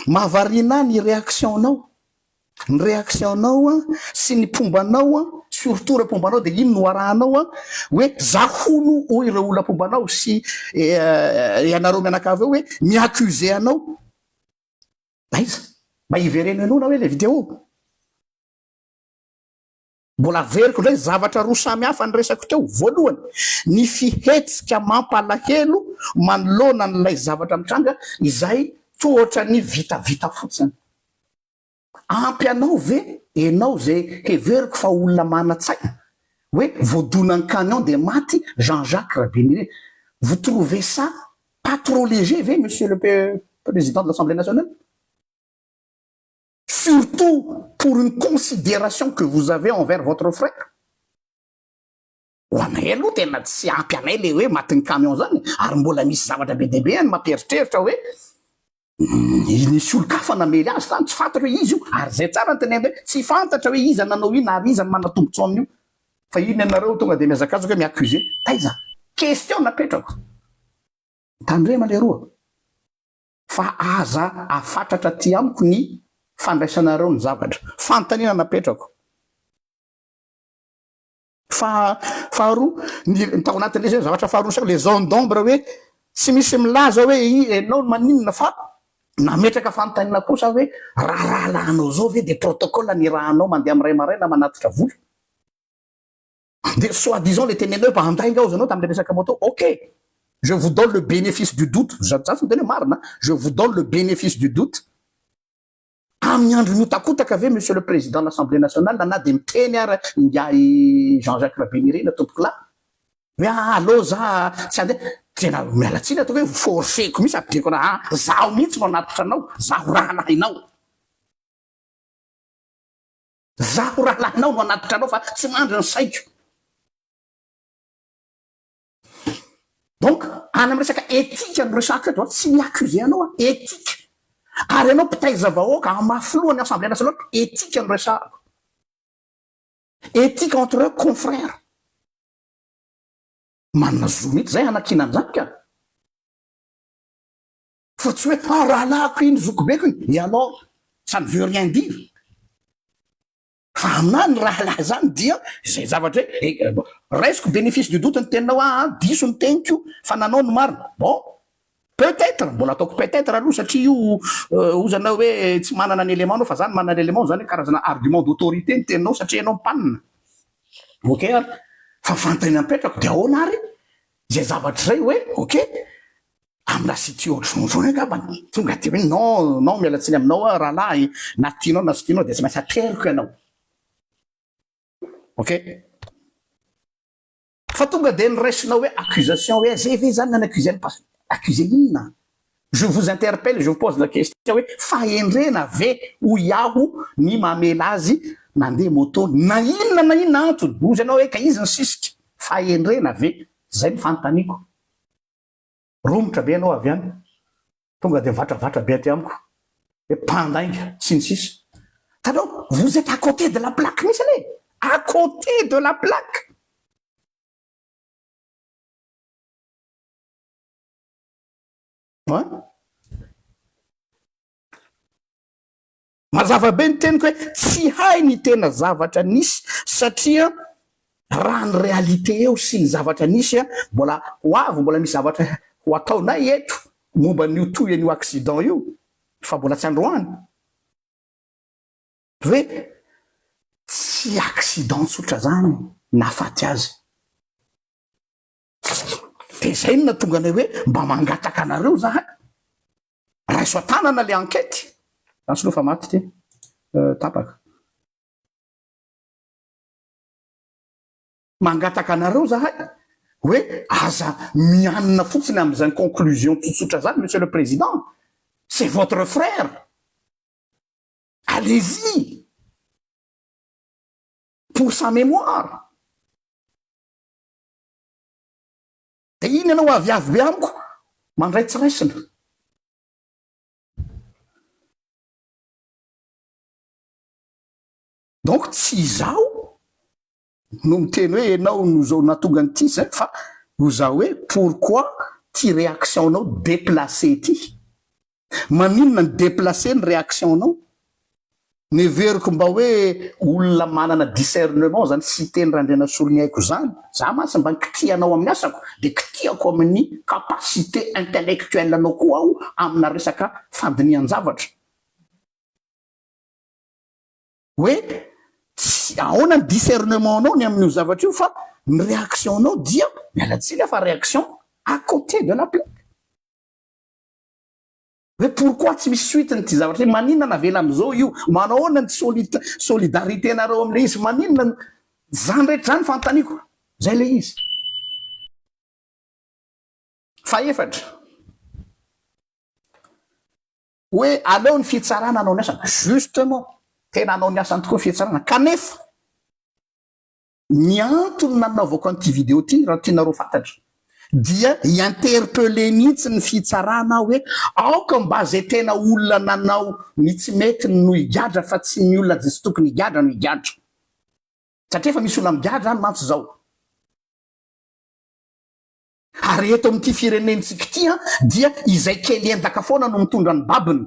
Mahavariana ahy ny réaction nao, ny réaction nao sy ny mpomba nao surtout ireo mpomba nao dia iny no arahanao hoe za hono hoy ireo olona mpomba anao sy ianareo mianakavy eo hoe mi accuse anao, aiza? Mba hivereno henoina hoe ilay vidéo. Mbola averiko indray zavatra roa samy hafa niresako teo. Voalohany, ny fihetsika mampalahelo manoloana an'ilay zavatra mitranga izay toa ohatran'ny vitavita fotsiny. Ampy anao ve ianao izay heveriko fa olona manan-tsaina hoe voadonan'ny camion dia maty Jean Jacques Rabeniry? Vous trouvez ça pas trop léger ve Monsieur le Président de l'Assemblée nationale? surtout pour une consideration que vous avez envers votre frère, ho anay aloha tena tsy ampy anay le hoe matin'ny camion zany ary mbola misy zavatra be dia be any mampieritreritra hoe nisy olon-kafa namely azy zany tsy fantatra hoe iza io ary zay tsara ny tenenina hoe tsy fantatra hoe iza nanao ina ary iza ny manatombotso amin'io fa iny ianareo tonga dia mihazakazaka hoe mi-accusé taiza question napetrako tandrema leroa fa aza afatratra aty amiko ny fandraisanareo ny zavatra. Fanontaniana napetrako. Faha, faharoa, ny, ny tao anatin'ilay izay ny zavatra faharoa nisaiko, ilay zone d'ombre hoe tsy misy milaza hoe i, ianao no maninona fa nametraka fanontaniana kosa aho hoe raha rahalahinao izao ve dia protocole ny raha anao mandeha amin'ny iray maraina manatitra vola? Dia soit disant le teneneo mba handainga aho zanao tamle resaka moto ok je vous donne le benefice du doute za za tsy miteny hoe marina je vous donne le benefice du doute amin'ny andro mihotakotaka ve monsieur le président l'assemblée nationale na dia miteny ara ingahy Jean Jacques Rabinirina tompokolahy hoe ah allo za tsy handeha tena miala tsiny ataoko hoe forceko misy apidreko raha zaho mihitsy no anatitra anao zaho rahalahinao Zaho rahalahinao no hanatitra anao fa tsy mandry ny saiko. Donc any amin'ny resaka éthique no resahako eto a, tsy mi-accuser anao aho, éthique. Ary ianao mpitaiza vahoaka hamafy loha ny Assemblée nationale, éthique no resahako. Éthique entre confrères. Manana zo mihitsy zay hanakiana an'izany ka. Fa tsy hoe ah rahalahiko iny, zokibeko iny, et alors ça ne veut rien dire. Fa aminahy ny rahalahy izany dia izay zavatra hoe eh, eh, raisiko bénéfice du doute ny teninao ah, ah, diso ny teniko fa nanao ny marina. Bon, peut-être, mbola ataoko peut-être aloha satria io euh, ozana hoe eh, tsy manana ny élément anao fa za ny manana élément izany hoe karazana argument d'autorité ny teninao satria ianao mpanina. Ok ary? Fa fanontaniana mipetrako dia ahoana ary izay zavatra izay hoe ok Am la sy tsy ohatry vonjony angamba no tonga de hoe non non miala tsiny aminao aho rahalahy na tianao na sy tianao de tsy maintsy ateriko ianao ok. Fa tonga de niraisinao hoe accusation hoe ze ve zany nany accuse an'i pas accuse inona je vous interpelle je vous pose la question hoe fahendrena ve hoy aho ny mamela azy nandeha moto na inona na inona antony hozy anao hoe ka izy ny sisika fahendrena ve zay ny fanontaniako. romotra be ianao avy any, tonga dia mivatravatra be aty amiko, hoe mpandainga, sy ny sisa. Hitanao, vous êtes à côté de la plaque mihitsy anie e! À côté de la plaque! An? Mazava be ny teniko hoe tsy hay ny tena zavatra nisy satria raha ny réalité eo sy ny zavatra nisy mbola ho avy mbola misy zavatra ho ataonay eto momba an'io toy an'io accident io fa mbola tsy androany hoe tsy accident tsotra zany nahafaty azy. de zay no nahatonga anay hoe mba mangataka anareo zahay raiso an-tanana le enquête zany soa fa maty ty tapaka mangataka anareo zahay hoe aza mianina fotsiny am'izany conclusion tsotsotra zany monsieur le président c'est votre frère allez-y pour sa mémoire Dia iny ianao aviavy be amiko mandray tsy raisina. Donc tsy izaho no miteny hoe ianao no izao nahatonga an'ity izay fa ho za hoe pourquoi ity réaction-nao déplacée ity. Maninona ny deplacer ny réaction nao? Ny heveriko mba hoe olona manana discernement zany Siteny Randrianasolo ny aiko zany, za mantsy mba ny kitihanao amin'ny asako de kitihako amin'ny capacité intellectuelle anao koa aho amina resaka fandinihan-javatra hoe tsy ahoana ny discernement nao ny amin'io zavatra io fa ny réaction nao dia, miala tsiny aho fa réaction à côté de la plaque. Hoe pourquoi tsy misy suite n'ity zavatra ity? Maninona navela amizao io? Manao ahoana ny solid- solidarité nareo amle izy? Maninona no. Zany rehetra zany fanontaniako. Zay le izy. Fahefatra, hoe aleo ny fitsarana hanao ny asany. Justement, tena hanao ny asany tokoa ny fitsarana. Kanefa. Ny antony nanaovako an'ity video ity raha tianareo fantatra dia hi-interpeller mihitsy ny fitsarana aho hoe aoka mba zay tena olona nanao ny tsy mety no higadra fa tsy ny olona tsy tokony higadra no higadra satria efa misy olona migadra any mantsy zao. Ary eto amin'ity firenentsika ity an dia izay kely endaka foana no mitondra ny babiny.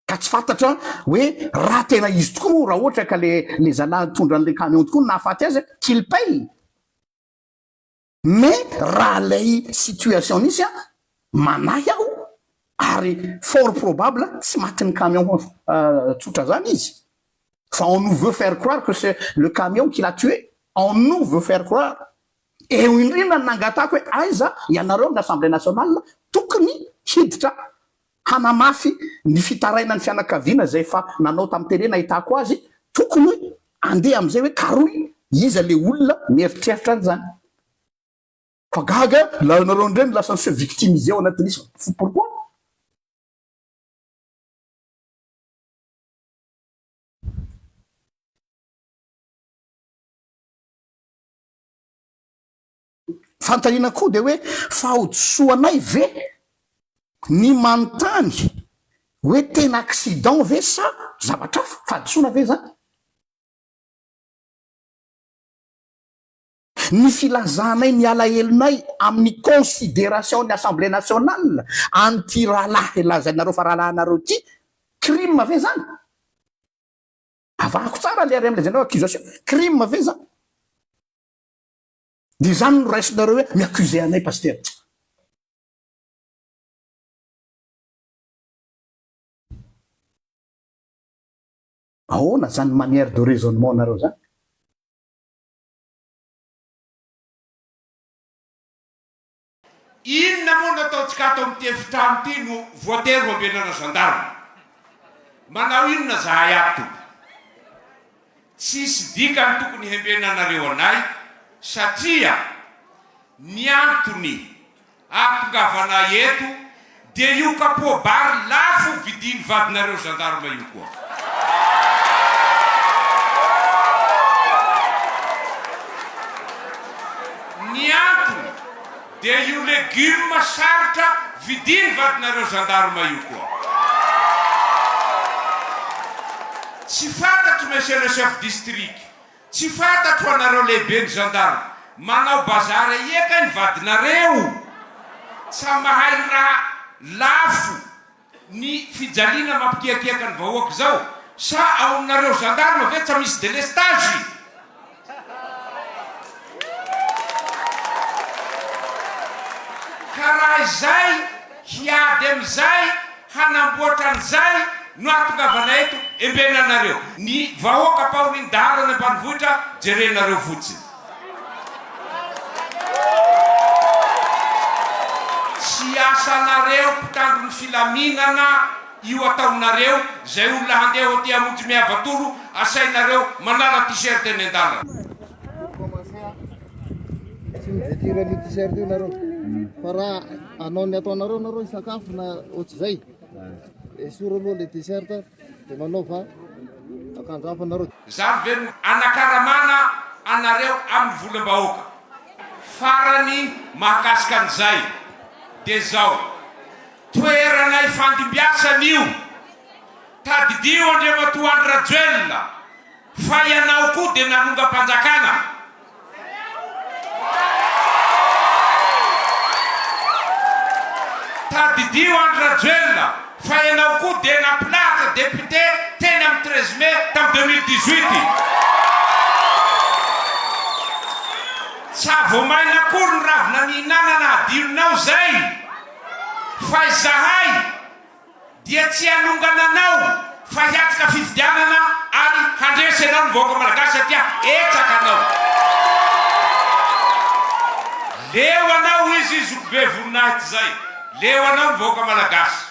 ka tsy fantatra hoe raha tena izy tokoa raha ohatra ka le le zalahy nitondra an'ilay camion tokoa no nahafaty azy qu'il paye mais raha lay situation nisy a manahy aho ary fort probable tsy matin'ny camion tsotra zany izy fa on nous veut faire croire que c'est le camion qui l'a tué on nous veut faire croire eo indrindra nangatako hoe aiza ianareo ny assemblée nationale tokony hiditra hanamafy ny fitarainan'ny fianakaviana izay efa nanao tamin'ny tele nahitako azy, tokony andeha amin'izay hoe karohy iza le olona mieritreritra an'izany. Fa gaga la nareo ndray no lasa se victimise ao anatin'ny isa fo pourquoi? Fanontaniana koa dia hoe fahadisoanay ve ny manontany hoe tena accident ve sa zavatra hafa? Fahadisoana ve izany? Ny filazanay ny alahelonay amin'ny consideration-n'ny Assemblée nationale an'ity rahalahy lazainareo fa rahalahinareo ity, crime ve izany? Avahako tsara ilay RMLD-nao, accusation, crime ve izany? De izany no raisinareo hoe mi-accuser anay Pasitera. Ahoana zany manière de raisonnement nareo zany? Inona moa no ataontsika ato amin'ity efitrano ity no voatery hoambenana gendarme? Manao inona zahay ato tompoko? Tsisy dikany tokony hembenanareo anay satria ny antony ahatongavanay eto Dia io kapoa bary lafo vidiny vadinareo gendarme io koa. Ny antony dia io legume sarotra vidiny vadinareo gendarme io koa. Tsy fantatro monsieur le chef district. Tsy fantatro anareo lehibe ny gendarme manao bazary aia kay ny vadinareo tsa mahay raha lafo ny fijaliana mampikiakiaka ny vahoaka zao sa ao aminareo gendarme ve tsa misy delestage. Ka raha izay hiady amizay Hanamboatra an'izay no ahatongavana eto Embena anareo. Ny vahoaka ampahoriny dahalo any ambanivohitra jerenareo fotsiny. Tsy asanareo mpitandro ny filaminana io ataonareo izay olona handeha aty hamonjy mihavatoro asainareo manala t-shirt eny an-dalana. Anao ny ataonareo nareo hisakafo na ohatr'izay. Esory aloha le t-shirt de manaova akanjo hafa nareo. Zany ve no anakaramana anareo aminy volambahoaka? Farany mahakasika an'izay de zao, toerana ifandimbiasana io, tadidio Andriamatoa Andry Rajoelina fa ianao koa de nanongam-panjakana. Tadidio Andry Rajoelina fa ianao koa dia nampilahatra député teny amin'ny treize mai tamin'ny deux mille dix huit. Tsy hahavoamaina akory ny ravina nihinanana hadinonao izay fa izahay, Dia tsy hanongana anao fa hiatrika fifidianana ary handresy anao ny vahoaka Malagasy satria hetsaka anao. Leo anao ho'izy zokibe voninahitra zay. Leo anao ny vahoaka Malagasy.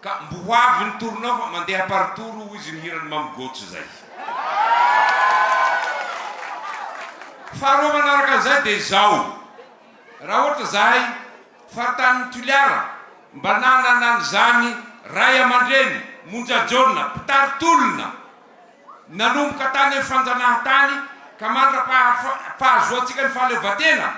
Ka mbo ho avy ny torinao fa mandeha par tour ho'izy ny hiran'i Mamy Gojo zay. Faharoa manaraka an'izay dia izao. Raha ohatra zahay. Faritany Toliara, mba nanana an'izany ray aman-dreny monja jaona mpitari-tolona nanomboka tany amin'ny fanjanahantany ka mandra-pahazoantsika ny fahaleovantena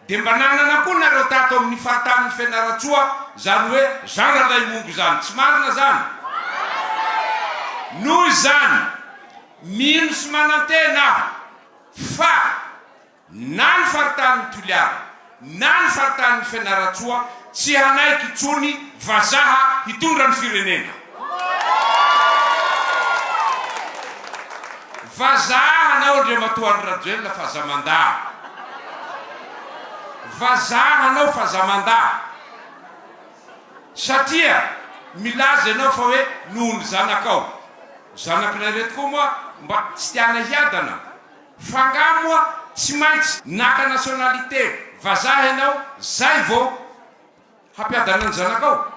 dia mba nanana koa nareo tato amin'ny faritanin'i Fianarantsoa izany hoe Zandra Lahimongo izany, tsy marina izany? Noho izany, mino sy manantena aho fa. na ny faritanin'i Toliara na ny faritanin'i Fianarantsoa tsy hanaiky intsony vazaha hitondra ny firenena. Vazaha hanao Andriamatoa Andry Rajoelina fa za mandà. Vazaha hanao fa za mandà. Satria milaza ianao fa hoe noho ny zanakao. Zanak'ilay reto koa moa mba tsy tiana hiadana. F'angaha moa tsy maintsy naka nationalité vazaha ianao zay vao hampiadana ny zanakao?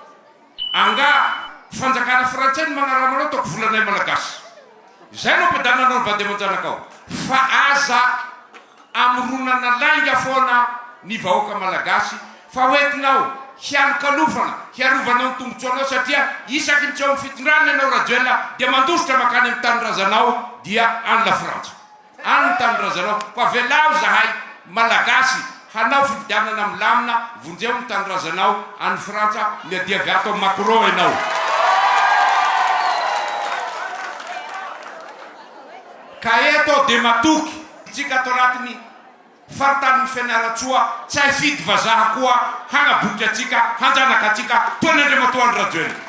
Angaha fanjakana frantsay no magnarama anao ataoko volanay malagasy zay no ampiadananao ny vady aman-janakao? Fa aza amoronana lainga foana ny vahoaka malagasy Fa hoentinao hialokalofana hiarovanao ny tombotsoanao satria isaky ny tsy ao amin'ny fitondrana ianao Rajoelina dia mandositra mankany amin'ny tanindrazanao dia any Lafrantsa any ny tanindrazanao koa avelao zahay Malagasy hanao fifidianana milamina vonjeo ny tanindrazanao any Frantsa miadiavy ato amin'i Macron ianao. Ka eto aho dia matoky antsika ato anatin'ny Faritan'i Fianarantsoa, tsy hay fidy vazaha koa, hanaboky antsika, hanjanaka antsika, toa ny Andriamatoa Andry Rajoelina.